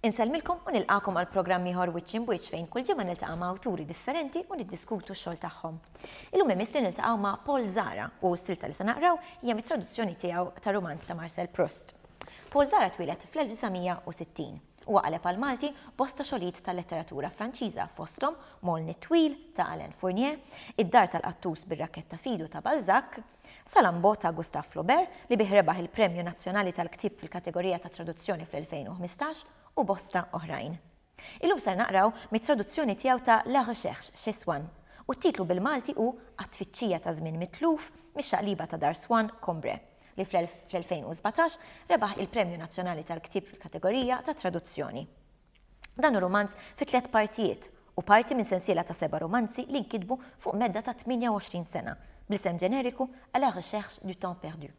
Insellmilkom u nilqakom għal programm ieħor wiċċ imwiċċ fejn kull ġimgħa niltaqa' ma' awturi differenti u niddiskutu x-xogħol tagħhom. Illum imiss li niltaqgħu ma' Paul Zara u s-silta li se naqraw hija mit-traduzzjoni tiegħu ta' rumanz ta' Marcel Proust. Paul Zara twieled fl-1960. Huwa qaleb għall-Malti bosta xogħlijiet tal-letteratura Franċiża fosthom Moln it-Twil ta' Alain Fournier, Id-Dar tal-Qattus bir-Rakketta f'idu ta' Balzac, Salammbô ta' Gustave Flaubert li bih rebaħ il-Premju Nazzjonali tal-Ktieb fil-kategorija tat-Traduzzjoni fl-2015 u bosta oħrajn. Illum ser naqraw mit-traduzzjoni tiegħu ta' La recherche chez Swann, u t-titlu bil-Malti hu Għat-tfittxija ta' żmien mitluf mix-xaqliba ta' Dar Swann, Combray, li fl-2017 rebaħ il-Premju Nazzjonali tal-Ktieb fil-kategorija tat-Traduzzjoni. Dan hu rumanz fi tliet partijiet, u parti minn sensiela ta' seba' rumanzi li nkitbu fuq medda ta' 28 sena, bl-isem ġeneriku A la recherche du temps perdu.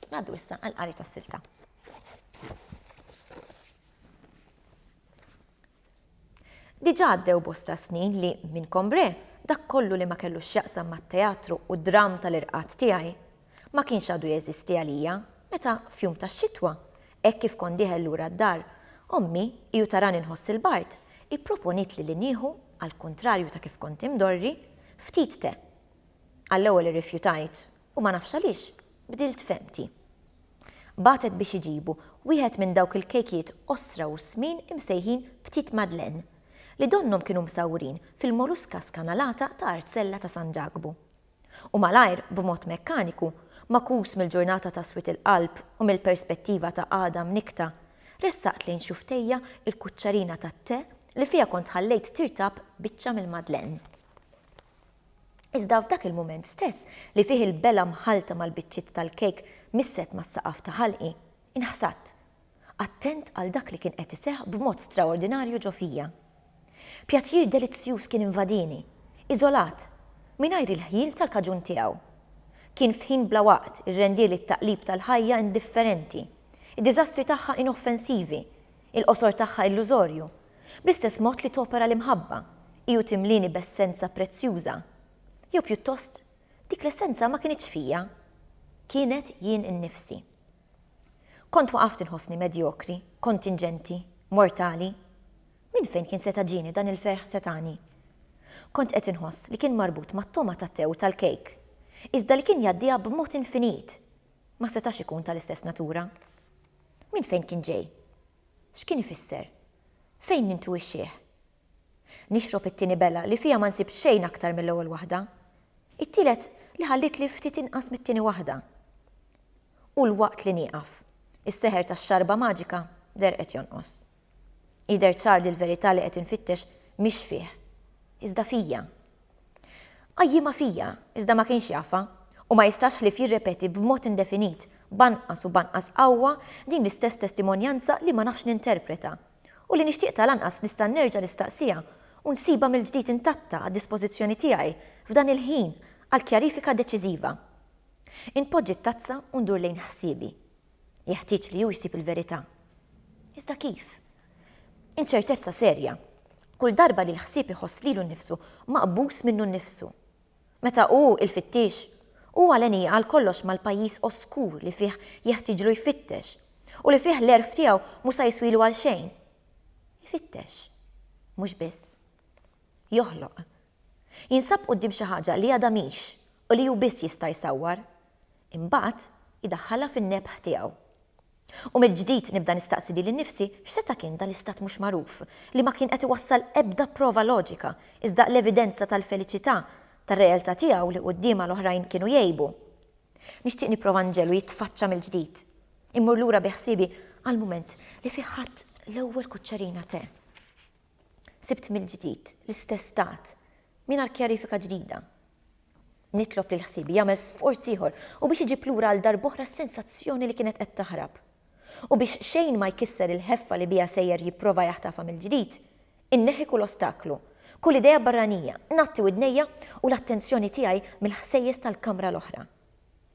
Ngħaddu issa għall-qari tas-silta. Diġà għaddew bosta snin li, minn Combré, dak kollu li ma kellu x'jaqsam mat-teatru u d-dramm tal-irqad tiegħi, ma kienx għadu jeżisti għalija, meta, f'jum tax-xitwa, hekk kif kont dieħel lura d-dar, ommi, hi u tarani nħoss il-bard, ipproponietli li nieħu, għall-kuntrarju ta' kif kont imdorri, ftit te. Għall-ewwel irrifjutajt, U ma nafx għaliex, bdilt fehmti. Bagħtet biex iġibu wieħed minn dawk il-kejkijiet qosra u smin imsejħin petit madeleine, li donnhom kienu msawrin fil-moruska skanalata ta' artzella ta' San Ġakbu. U malajr, b'mod mekkaniku, magħkus mill-ġurnata ta' swied il-qalb u mill-perspettiva ta' għada mnikkta, ressaqt lejn xufftejja l-kuċċarina tat-te li fiha kont ħallejt tirtab biċċa mill-madeleine. Iżda f'dak il-mument stess li fih il-belgħa mħallta mal-biċċiet tal-kejk misset mas-saqaf ta' ħalqi, inħsadt, attent għal dak li kien qed iseħħ b'mod straordinarju ġo fija. Pjaċir delizzjuż kien invadini, iżolat, mingħajr il-ħjiel tal-kaġun tiegħu. Kien f'ħin bla waqt, irrendieli t-taqlib tal-ħajja indifferenti, id-diżastri tagħha inoffensivi, Il-qosor tagħha illużorju, bl-istess mod li topera l-imħabba, hi u timlieni b'essenza prezzjuża. Jew pjuttost, dik l-essenza ma kinitx fija. Kienet jien innifsi. Kont waqaft inħossni medjokri, kontinġenti, mortali. Minn fejn kien seta' ġieni dan il-ferħ setgħani? Kont qed inħoss li kien marbut mat-togħma tat-te u tal-kejk, iżda li kien jgħaddiha b'mod infinit, ma setax ikun tal-istess natura. Minn fejn kien ġej? X'kien ifisser? Fejn nintuwixxih? Nixrob it-tieni bela li fiha ma nsib xejn aktar mill-ewwel waħda. It-tielet li ħallitli ftit inqas mit-tieni waħda. U 'l waqt li nieqaf, is-seħer tax-xarba maġika derqet jonqos. Jidher ċar li l-verità li qed infittex mhix fih, iżda fija. Qajjimha fija, iżda ma kienx jafha, u ma jistax ħlief jirrepeti b'mod indefinit, b'anqas u b'anqas qawwa, din l-istess testimonjanza li ma nafx ninterpreta, u li nixtieq tal-anqas nista' nerġa' nistaqsiha u nsibha mill-ġdid intatta għad-dispożizzjoni tiegħi f'dan il-ħin għal kjarifika deċiżiva. Inpoġġi t-tazza u ndur lejn ħsiebi. Jeħtieġ li hu jsib il-verità. Iżda kif? Inċertezza serja, kull darba li l-ħsieb iħoss lilu nnifsu maqbus minnu nnifsu. Meta hu, il-fittiex, hu għaleni għal kollox mal-pajjiż oskur li fih jeħtieġlu jfittex u li fih l-għerf tiegħu mhu sa jiswilu għal xejn. Ifittex. Mhux biss. Joħloq. Jinsab quddiem xi ħaġa li għadha mhix u li hu biss jista' jsawwar, Imbagħad idaħħalha fin-nebħ tiegħu. U mill-ġdid nibda nistaqsi lili nnifsi x'seta' kien dan l-istat mhux magħruf, li ma kien qed iwassal ebda prova loġika, iżda l-evidenza tal-feliċità tar-realtà tiegħu li quddiemha l-oħrajn kienu jgħibu. Nixtieq nipprova nġegħlu jitfaċċa mill-ġdid. Immur lura bi ħsiebi għall-mument li fih ħadt l-ewwel kuċċerina te. Sibt mill-ġdid l-istess stat mingħajr kjarifika ġdida. Nitlob lil ħsiebi jagħmel sforz ieħor u biex iġib lura għal darb'oħra s-sensazzjoni li kienet qed taħrab. U biex xejn ma jkisser il-ħeffa li biha sejjer jipprova jaħtafha mill-ġdid, inneħħi kull ostaklu, kull idea barranija, ngħatti widnejja u l-attenzjoni tiegħi mill-ħsejjes tal-kamra l-oħra.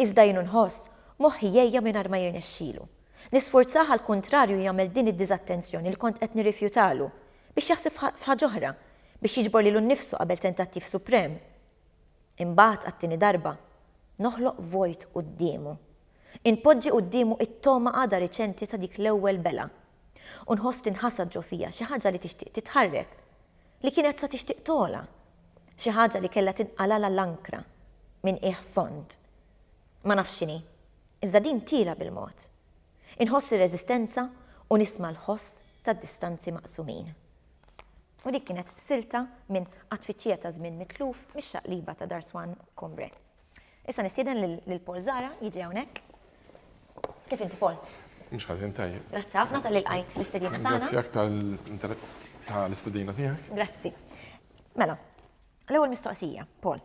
Iżda jien nħoss moħħi jgħejja mingħajr ma jirnexxilu. Nisfurzah għall-kuntrarju jagħmel din id-diżattenzjoni li kont qed nirrifjutalu, biex jaħseb f'ħaġ'oħra, biex jiġbor lilu nnifsu qabel tentattiv suprem. Imbagħad, għat-tieni darba, noħloq vojt quddiemu. Inpoġġi quddiemu it-togħma għadha riċenti ta' dik l-ewwel belgħa. U nħoss tinħasad ġo fija xi ħaġa li tixtieq titħarrek. Li kienet sa tixtieq togħla. Xi ħaġa li kellha tinqalala l-ankra minn qiegħ fond. Ma nafx x'inhi. Iżda din tiela' bil-mod. Inħoss ir-reżistenza u nisma' l-ħoss tad-distanzi maqsumin. U dik kienet silta minn Għat-Tfittxija ta' Żmien Mitluf mix-xaqliba ta' Dar Swan Combre. Issa nistieden lil Paul Zara jiġi hawnhekk. Kif inti Paul? Mhux ħażin tajjeb. Grazzi ħafna tal-li lqajt l-istedina tagħna. Grazzi aktar tal-istedina tiegħek. Grazzi. Mela, l-ewwel mistoqsija, Paul.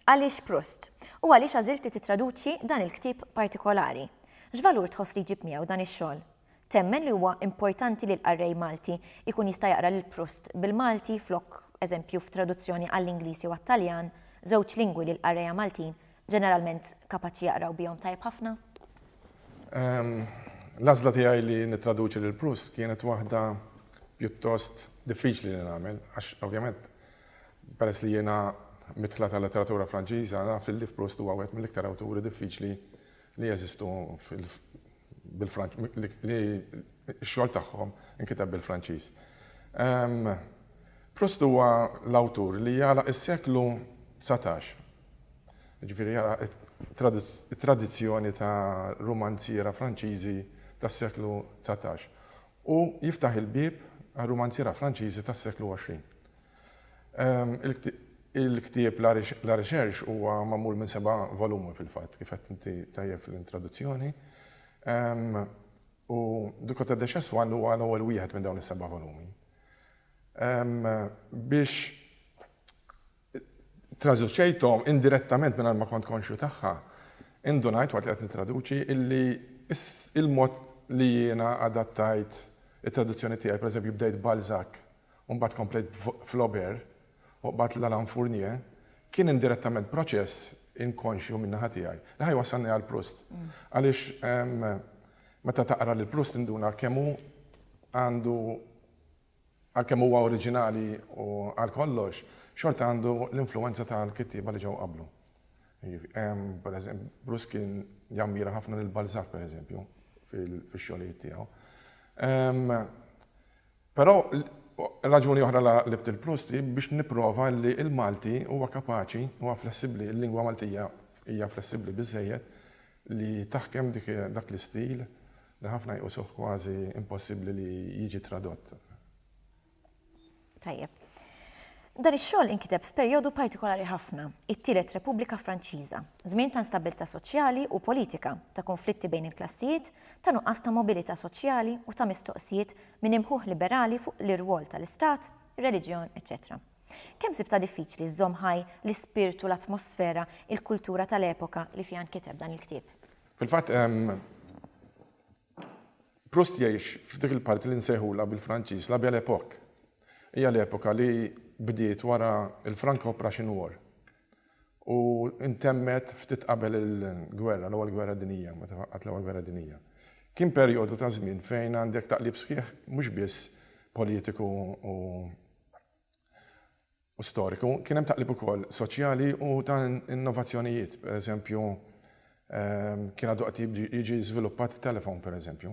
Għaliex Proust? U għaliex għażilti titraduċi dan il-ktieb partikolari? X'valur tħoss li jġib miegħu dan ix-xogħol? Temmen li huwa importanti li l-qarrej Malti jkun jista' jaqra lil Proust bil-Malti flok eżempju f'traduzzjoni għall-Ingliż jew għat-Taljan, żewġ lingwi li l-qarrejja Maltin ġeneralment kapaċi jaqraw bihom tajjeb ħafna? L-għażla tiegħi li nittraduċi lil Proust kienet waħda pjuttost diffiċli li nagħmel għax ovvjament peress li jiena midħla tal-letteratura Franċiża naf li Proust huwa wieħed mill-iktar awturi diffiċli li jeżistu bil-Franċiż, li x-xogħol tagħhom inkiteb bil-Franċiż. Proust huwa l-awtur li jagħlaq is-seklu dsatax, jiġifieri jagħlaq it-tradizzjoni ta' rumanziera Franċiżi tas-seklu dsatax u jiftaħ il-bieb għar-rumanziera Franċiżi tas-seklu għoxrin. Il-ktieb La Recherche huwa magħmul minn seba' volumi fil-fatt, kif għedt inti tajjeb fl-introduzzjoni. U Du Côté des Chassepoints huwa l-ewwel wieħed minn dawn is-seba' volumi. Biex traduċejthom indirettament mingħajr ma kont konxju tagħha, indunajt waqt li qed nittraduċi illi il-mod li jiena adattajt it-traduzzjoni tiegħi, pereżempju bdejt Balzac u mbagħad komplejt b'Flaubert u qbadt lil Alain Fournier, kien indirettament proċess inkonxju min-naħa tiegħi li ħa jwassalni għal Proust. Għaliex meta taqra lil Proust tinduna kemm hu għandu, għalkemm huwa oriġinali u għal kollox, xorta għandu l-influwenza tal-kittieba li ġew qablu. Proust kien jammira ħafna lil Balzac, pereżempju, fix-xogħlijiet tiegħu. Però raġuni oħra li għaqlibt il-Proust hi biex nipprova li l-Malti huwa kapaċi, huwa flessibbli, il-lingwa Maltija hija flessibbli biżżejjed li taħkem dak l-istil li ħafna jqusuh kważi impossibbli li jiġi tradott. Tajjeb. Dan ix-xogħol inkiteb f'perjodu partikolari ħafna, it-Tielet Repubblika Franċiża, żmien ta' instabbiltà soċjali u politika, ta' kunflitti bejn il-klassijiet, ta' nuqqas ta' mobilità soċjali u ta' mistoqsijiet minn imħuħ liberali fuq l-irwol tal-Istat, ir-reliġjon, eċċetera Kemm sibtha diffiċli żżomm ħaj l-ispirtu, l-atmosfera, il-kultura tal-epoka li fiha nkiteb dan il-ktieb? Fil-fatt, Proust jgħix f'dik il-parti li nsejħulha bil-Franċiż la Belle Époque. Hija l-epoka li bdiet wara l-Franco-Prussian War. u ntemmet ftit qabel il-gwerra, l-Ewwel Gwerra Dinjija, meta waqgħet l-Ewwel Gwerra Dinjija. Kien perjodu ta' żmien fejn għandek taqlib sħiħ mhux biss politiku u storiku, kien hemm taqlib ukoll soċjali u ta' innovazzjonijiet. Pereżempju, kien għadu qed jiġi żviluppat it-telefon, pereżempju.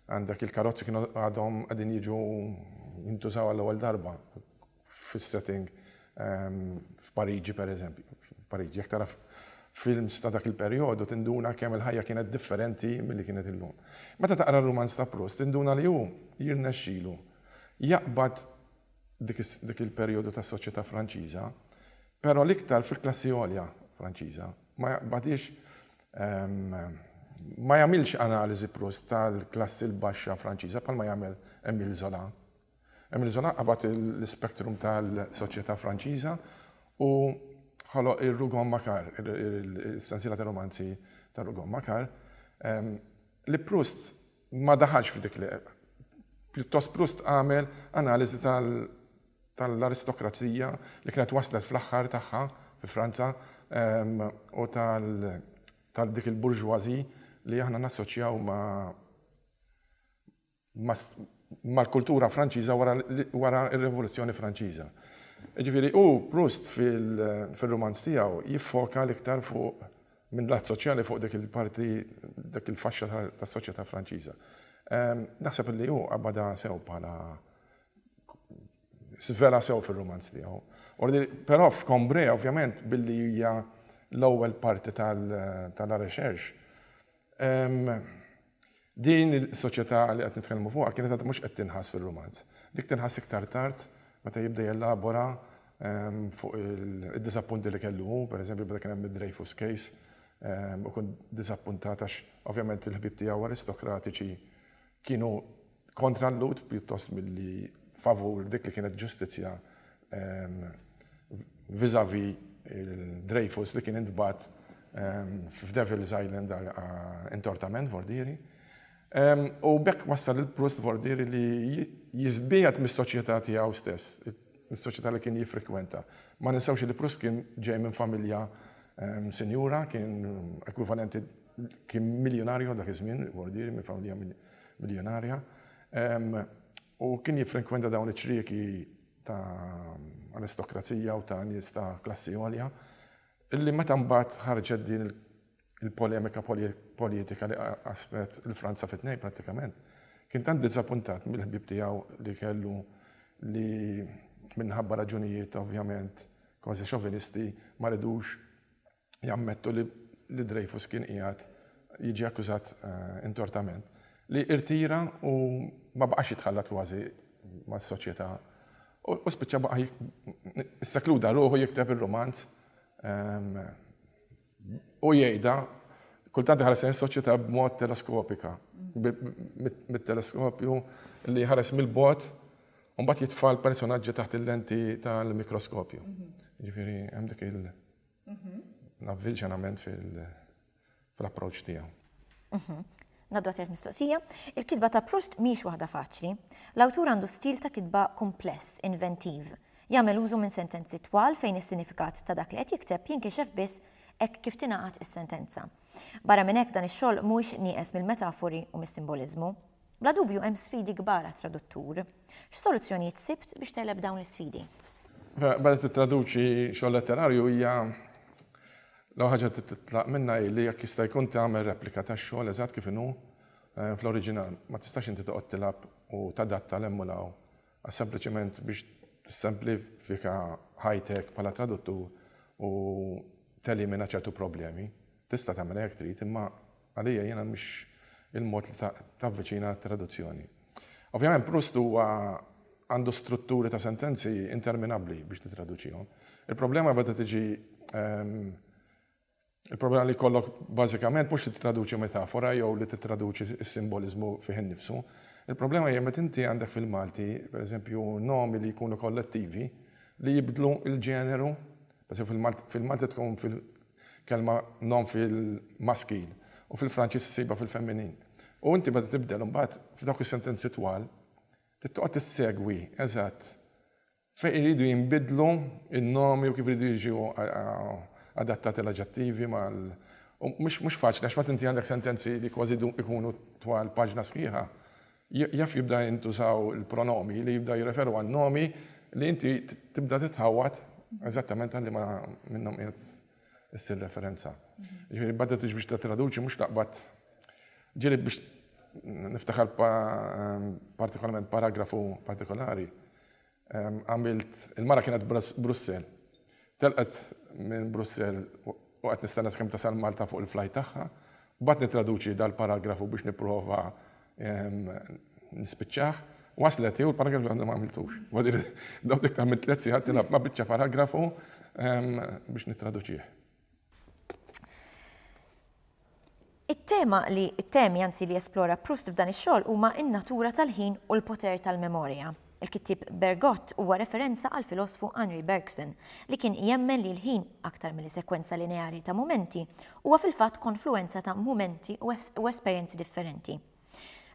Għandek il-karozzi kienu għadhom qegħdin jiġu jintużaw għall-ewwel darba. fis-setting f'Pariġi pereżempju. F'Pariġi jekk tara films ta' dak il-perjodu tinduna kemm il-ħajja kienet differenti milli kienet illum. Meta taqra r-rumanz ta' Proust tinduna li hu jirnexxilu jaqbad dik il-perjodu tas-soċjetà Franċiża, però l-iktar fil-klassi għolja Franċiża. Ma jaqbadhiex ma jagħmilx analiżi Proust tal-klassi l-baxxa Franċiża bħalma jagħmel Emile Zola. Emile Zola qabad l-ispektrum tal-soċjetà Franċiża u ħoloq ir-Rougon Macquart, is-sensiela ta' rumanzi tar-Rougon Macquart, li Proust ma daħalx f'dik li pjuttost Proust għamel analiżi tal-aristokrazija li kienet waslet fl-aħħar tagħha fi Franza u tal-dik il-bourgeoisie li aħna nassoċjaw ma' mal-kultura Franċiża wara r-Rivoluzzjoni Franċiża. Jiġifieri hu, Proust, fir-rumanz tiegħu jiffoka l-iktar fuq, minn lat soċjali, fuq dik il-parti, dik il-faxxa tas-soċjetà Franċiża. Naħseb li hu qabadha sew bħala, żvelha sew fir-rumanz tiegħu. Però f'Combré, ovvjament, billi hija l-ewwel parti ta' La Recherche, Din is-soċjetà li qed nitkellmu fuqha kienet għadha mhux qed tinħass fir-rumanz. Dik tinħass iktar tard meta jibda jelabora fuq id-diżappunti li kellu hu, pereżempju meta kien hemm id-Dreyfus Case, u kont diżappuntat għax ovvjament il-ħbieb tiegħu aristokratiċi Kienu kontra l-Lhud pjuttost milli favur dik li kienet ġustizzja vis-à-vis il-Dreyfus li kien intbagħat f'Devil's Island għal intortament, Vordieri. U b'hekk wassal lil Proust Vordieri li jiżbiegħed mis-soċjetà tiegħu stess, mis-soċjetà li kien jiffrikwenta. Ma ninsewx li Proust kien ġej minn familja sinjura, kien ekwivalenti Kien miljunarju dak iż-żmien, bordieri minn familja miljonarja. U kien jiffrekwenta dawn iċ-ċrieki ta' aristokrazija u ta' nies ta' klassi għolja, illi meta mbagħad ħarġet din il- il-polemika politika li qasmet il-Franza fit nej prattikament, kien tant diżappuntat mill-ħbib tiegħu li kellu li minħabba raġunijiet ovvjament kważi xovinisti ma ridux jammettu li li Dreyfus kien qiegħed jiġi akkużat intortament, li irtira u ma baqax jitħallat kważi mas-soċjetà u spiċċa baqa' issakluda ruħu jikteb ir-rumanz u jgħidha kultant ħares lejn soċjetà b'mod teleskopika, mit-teleskopju li ħares mill-bot u mbagħad jitfa' l-personaġġi taħt il-lenti tal-mikroskopju. Ġifieri hemm dik il- L-avvilġenament fil-approċċ tiegħu. Ngħaddu għat-tielet mistoqsija. Il-kitba ta' Proust mhijiex waħda faċli. L-awtur għandu stil ta' kitba kumpless, inventiv. Jagħmel użu minn sentenzi twal fejn is-sinifikat ta' dak li qed jikteb jinkixef biss hekk kif tingħaqad is-sentenza. Barra minn hekk dan ix-xogħol mhuwiex nieqes mill-metafori u mis-simboliżmu. Bla dubju hemm sfidi kbar għat-traduttur. X'soluzzjonijiet sibt biex tegħleb dawn l-isfidi? Meta tittraduċi xogħol letterarju hija l-ewwel ħaġa li trid titlaq minnha hi li jekk jista' jkun tagħmel replika tax-xogħol eżatt kif inhu fl-oriġinal. Ma tistax inti toqgħod tilgħab u tadatta 'l hemm u 'l hawn għax sempliċement biex tissemplifika ħajtek bħala traduttur u telimina ċertu problemi. Tista' tagħmilha jekk trid imma Għalija jiena mhix il-mod li tavviċina għat-traduzzjoni. Ovvjament Proust huwa għandu strutturi ta' sentenzi interminabbli biex titraduċihom. Il-problema beda tiġi il-problema li jkollok bażikament mhux li titraduċi metafora jew li titraduċi s-simboliżmu fih innifsu. Il-problema hija meta inti għandek fil-Malti, pereżempju, nomi li jkunu kollettivi li jibdlu l-ġeneru Pereżempju, fil-Malti, fil-Malti tkun fil, kelma nom fil-maskil, u fil-Franċiż issibha fil-femminil. U inti meta tibdel imbagħad, f'dawk is-sentenzi twal, trid toqgħod issegwi eżatt fejn iridu jinbidlu n-nomi u kif iridu jiġu adattati l-aġġettivi mal, u mhux faċli għax mbagħad inti għandek sentenzi li kważi jkunu twal paġna sħiħa. Jaf jibda jintużaw il-pronomi li jibda jirreferu għal nomi li inti tibda titħawwad eżattament għal liema minnhom qiegħed issir referenza. Jiġifieri badettx biex tittraduċi mhux taqbad ġieli biex niftakar partikolarment paragrafu partikolari Għamilt, il-mara kienet Brussell. Telqet minn Brussell u qed nistenna sakemm tasal Malta fuq il-flajt tagħha. U baqgħet nittraduċi dal-paragrafu biex nipprova nispiċċah. Waslet hi u l-paragrafu għadni ma għamiltux. Domt iktar minn tliet sigħat nilgħab ma' biċċa paragrafu biex nittraduċih. It-tema li it-temi anzi li jesplora Proust f'dan ix-xogħol huma n-natura tal-ħin u l-poter tal-memorja. Il-kittieb Bergotte huwa referenza għall-filosfu Henri Bergson, li kien jemmen li l-ħin, aktar milli sekwenza lineari ta' mumenti, huwa fil-fatt konfluwenza ta' mumenti u esperjenzi differenti.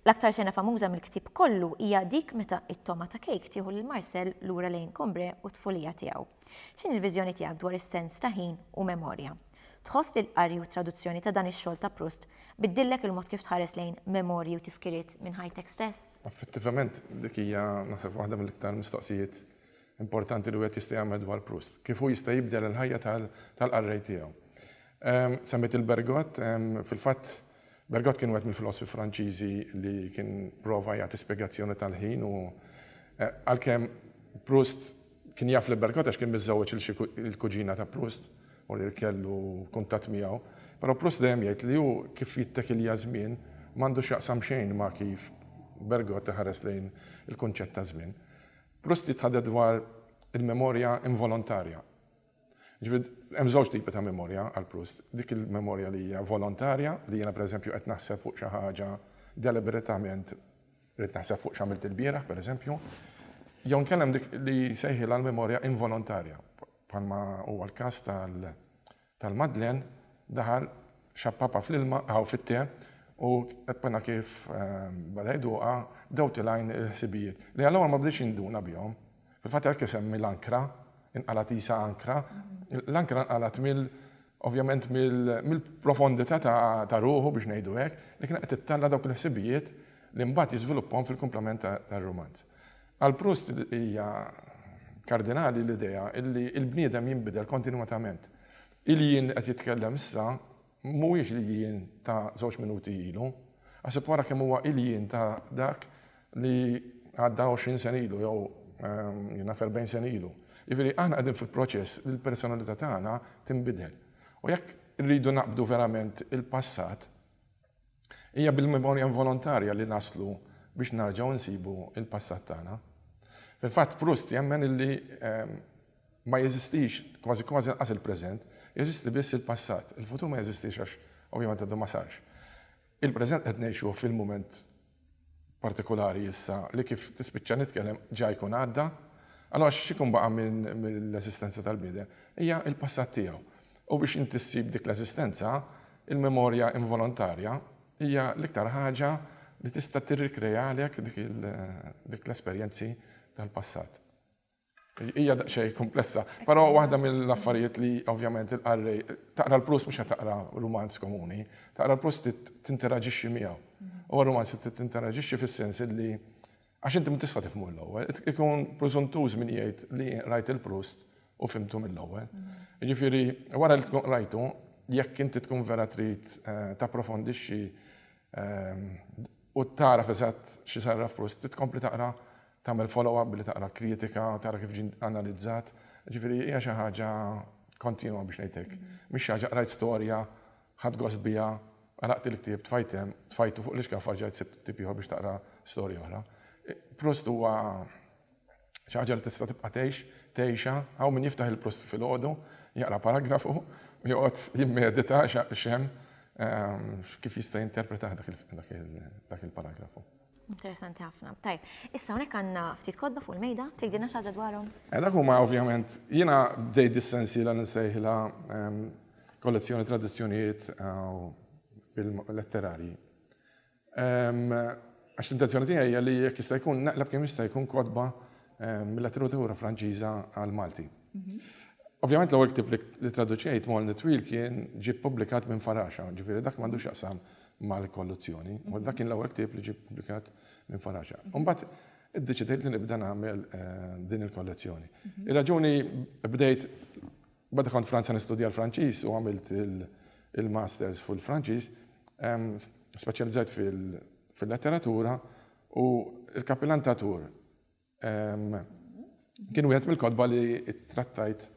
L-aktar xena famuża mill-ktieb kollu hija dik meta t-togħma ta' Kate tieħu lil Marcel lura lejn Combray u t-tfulija tiegħu. X'inhi l-viżjoni tiegħek dwar is-sens ta' ħin u memorja? Tħoss li l-qari u t-traduzzjoni ta' dan ix-xogħol ta' Proust biddillek il-mod kif tħares lejn memorji u tifkiriet minn ħajtek stess? Effettivament, dik hija, naħseb, waħda mill-iktar mistoqsijiet importanti li wieħed jista' jagħmel dwar Proust. Kif hu jista' jibdel il-ħajja tal-qarrej tiegħu? Semmejt il-Bergott. Fil-fatt, Bergot kien wieħed mill-filosfi Franċiżi li kien prova jagħti spjegazzjoni tal-ħin u għalkemm Proust kien jaf lil Bergot għax kien miżżewweġ il-kuġina ta' Proust u li kellu kuntatt miegħu, però Proust dejjem jgħid li hu kif jittekilja ż-żmien m'għandu x'jaqsam xejn ma' kif Bergot iħares lejn il-kunċett ta' żmien. Proust jitħadded dwar il-memorja involontarja. Jiġifieri hemm żewġ tipi ta' memorja għal Proust, dik il-memorja li hija volontarja, li jiena pereżempju qed naħseb fuq xi ħaġa deliberatament, irrid naħseb fuq x'għamilt ilbieraħ pereżempju, jew inkella hemm dik li jsejħilha l-memorja involontarja, bħalma huwa l-każ tal-Madeleine, daħal, xappapha fl-ilma, aw fit-te, u appena kif beda jduqha, bdew tilgħin il-ħsibijiet, li għall-ewwel ma bdejtx induna bihom. Fil-fatt għalhekk isemmi l-ankra, inqalgħet qisha ankra, l-ankra nqalgħet mill ovvjament mill-profondità ta' ruħu biex ngħidu hekk, li kienet qed ittella' dawk il-ħsibijiet li mbagħad jiżviluppahom fil-kumplament tar-rumanz. Għal Proust hija kardinali l-idea li l-bniedem jinbidel kontinwatament. Il-jien li qed jitkellem issa, Mhuwiex l-iljien ta' żewġ minuti ilu. Aħseb wara kemm huwa iljien ta' dak li għadda għoxrin sena ilu jew naf erbgħin sena ilu. Jiġifieri aħna qegħdin fi proċess li l-personalità tagħna tinbidel. U jekk irridu naqbdu verament il-passat, Hija bil-memorja involontarja li naslu biex nerġgħu nsibu l-passat tagħna. Fil-fatt Proust jemmen illi ma jeżistix kważi kważi lanqas il-preżent, jeżisti biss il-passat. Il-futur ma jeżistix għax ovvjament għadu ma sarx. Il-preżent qed ngħixuh fil-mument partikolari issa li kif tispiċċa nitkellem ġa jkun għadda. Allura x'ikun baqa' mill-eżistenza tal-bniedem? Hija l-passat tiegħu. U biex inti ssib dik l-eżistenza, il-memorja involontarja hija l-iktar ħaġa li tista' tirrikrealek dik l-esperjenzi tal-passat. Hija daqsxejn kumplessa, però waħda mill-affarijiet li ovvjament il-qarrej, taqra l-Proust mhux qed taqra rumanz komuni, taqra l-Proust trid tinteraġixxi miegħu. Huwa rumanz li trid tinteraġixxi fis-sens illi Għax inti minn tista' tifhmu mill-ewwel. Ikun preżuntuż min jgħid li rajt il-Proust u fhimtu mill-ewwel. Jiġifieri, wara li tkun qrajtu, jekk inti tkun vera trid tapprofondixxi u tagħraf eżatt xi sarraf Proust, trid tkompli taqra, tagħmel follow up billi taqra kritika, tara kif ġie analizzat. Jiġifieri hija xi ħaġa kontinwa biex ngħid hekk. Mhix xi ħaġa qrajt storja Ħadt gost biha, qraqt il-ktieb, tfajt hemm, tfajtu fuq l-ixkaf rġajt sibt ktieb ieħor biex taqra storja oħra. Proust huwa xi ħaġa li tista' tibqa' tgħix, tgħixha, hawn min jiftaħ il-Proust filgħodu, jaqra paragrafu u joqgħod jimmedita x'hemm, kif jista' jinterpretah dak il-paragrafu. Interessanti ħafna. Tajb, issa hawnhekk għandna ftit kodba fuq il-mejda, tgħidilna xi ħaġa dwarhom? Eh, dak huma ovvjament jiena bdejt dis-sensiela li nsejħilha ehm, kollezzjoni tradizzjonijiet eh, letterarji. Ehm, għax l-intenzjoni tiegħi hija li jekk jista' jkun naqleb kemm jista' jkun kodba ehm, mill-letteratura Franċiża għal Malti. Mhm. Ovvjament l-ewwel ktib li traduċejt Molni Twil kien ġie ppubblikat minn Faraxa, ġifieri dak m'għandux jaqsam mal-kolluzzjoni. U dak kien l-ewwel ktieb li ġie ppubblikat minn Faraġa. U mbagħad iddeċidejt li nibda nagħmel din il-kollezzjoni. Ir-raġuni bdejt bada kont Franza nistudja l-Franċiż u għamilt il-masters fil-Franċiż, speċjalizzajt fil-letteratura u l-kapilantatur. Kien wieħed mill-kotba li trattajt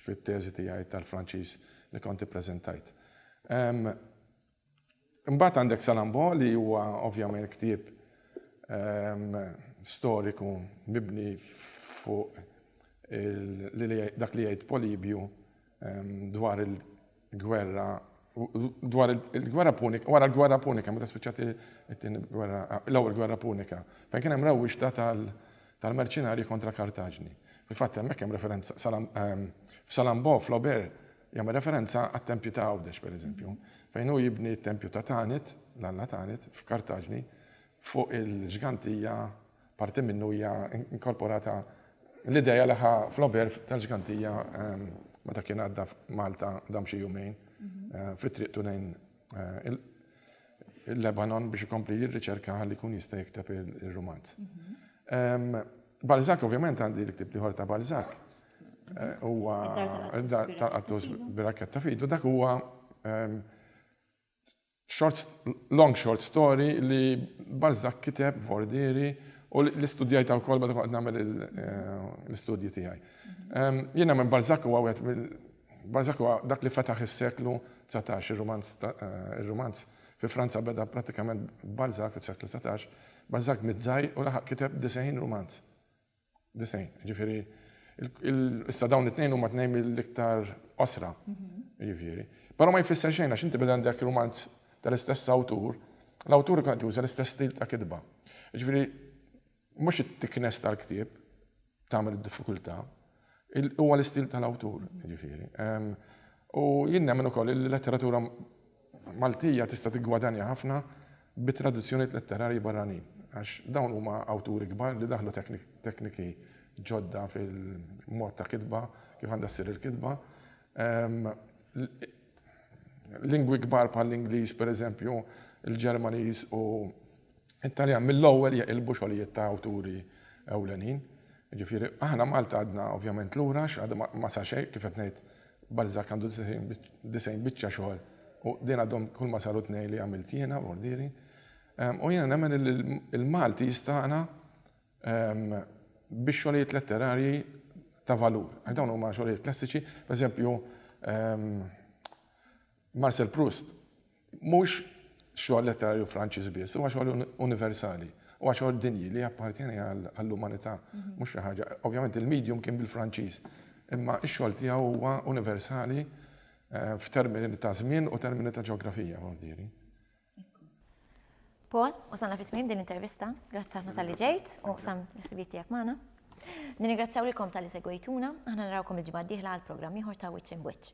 fit-teżi tiegħi tal-Franċiż li kont ippreżentajt. Imbagħad għandek Salambo li huwa ovvjament ktieb storiku mibni fuq dak li jgħid Polibju dwar il- Gwerra, dwar il-Gwerra Punika, wara l-Gwerra Punika, meta spiċċat it-tieni gwerra, l-ewwel Gwerra Punika, fejn kien hemm rewwixta tal-merċinarji kontra Kartaġni. Fil-fatt hemmhekk hemm referenza, f'Salambò, Flaubert jagħmel referenza għat-tempji ta' Għawdex, pereżempju, fejn hu jibni t-tempju ta' Tanit, l-alla Tanit, f'Kartaġni, fuq il-ġgantija Parti minnu hija inkorporata l-idea li ħa Flaubert tal-Ġgantija meta kien għadda f'Malta dam xi jumejn fi triqtu lejn il-Lebanon biex ikompli jirriċerka ħalli jkun jista' jikteb ir-rumanz. Balzac ovvjament għandi l-ktieb liħor ta' Balzac huwa tal-qattus birakketta fidu dak huwa Long short story li Balzac kiteb f'Vordieri u li studjajtha wkoll meta kont qed nagħmel l-istudji tiegħi. Jien nemmen Balzac huwa wieħed mill Balzac huwa dak li fetaħ is-seklu dsatax, ir-rumanz ir-rumanz fi Franza beda prattikament b'Balzac fis-seklu dsatax. Balzac miet żgħir u laħaq kiteb disgħin rumanz. 90. Jiġifieri issa dawn it-tnejn huma tnejn mill-iktar qosra. Jiġifieri. Però ma jfisser xejn għax inti meta għandek rumanz tal-istess awtur, l-awtur ikun qed juża l-istess stil ta' kitba. Jiġifieri mhux it-thickness tal-ktieb tagħmel id-diffikultà, huwa l-istil tal-awtur, jiġifieri. U jien nemmen ukoll li l-letteratura Maltija tista' tiggwadanja ħafna bi traduzzjonijiet letterarji barranin, għax dawn huma awturi kbar li daħlu tekniki ġodda fil-mod ta' kitba, kif għandha ssir il-kitba. Lingwi kbar bħall-Ingliż, pereżempju, il-Ġermaniż u. It-Taljan mill-ewwel jeqilbu xogħlijiet ta' awturi ewlenin. Jiġifieri aħna Malta għadna ovvjament lura għax għadu ma sar xejn, kif qed ngħid Balzac għandu disgħin biċċa xogħol u din għadhom kull ma saru tnejn li għamilt jiena b'ordieri. U jiena nemmen illi l-Malti jistagħna bi xogħlijiet letterarji ta' valur. Għax dawn huma xogħlijiet klassiċi, pereżempju Marcel Proust Mhux xogħol letterarju Franċiż biss, huwa xogħol universali, huwa xogħol dinji li jappartjeni għall-umanità, mhux xi ħaġa, ovvjament il-medium kien bil-Franċiż, imma x-xogħol tiegħu huwa universali f'termini ta' żmien u termini ta' ġeografija, mordieri. Paul, wasalna fi tmiem din l-intervista, grazzi ħafna talli ġejt u qsamt l-ħsibijiet tiegħek magħna. Nirringrazzjaw lilkom talli segwejtuna, aħna narawkom il-ġimgħa d-dieħla għal programm ieħor ta' Wiċċ Imb' Wiċċ.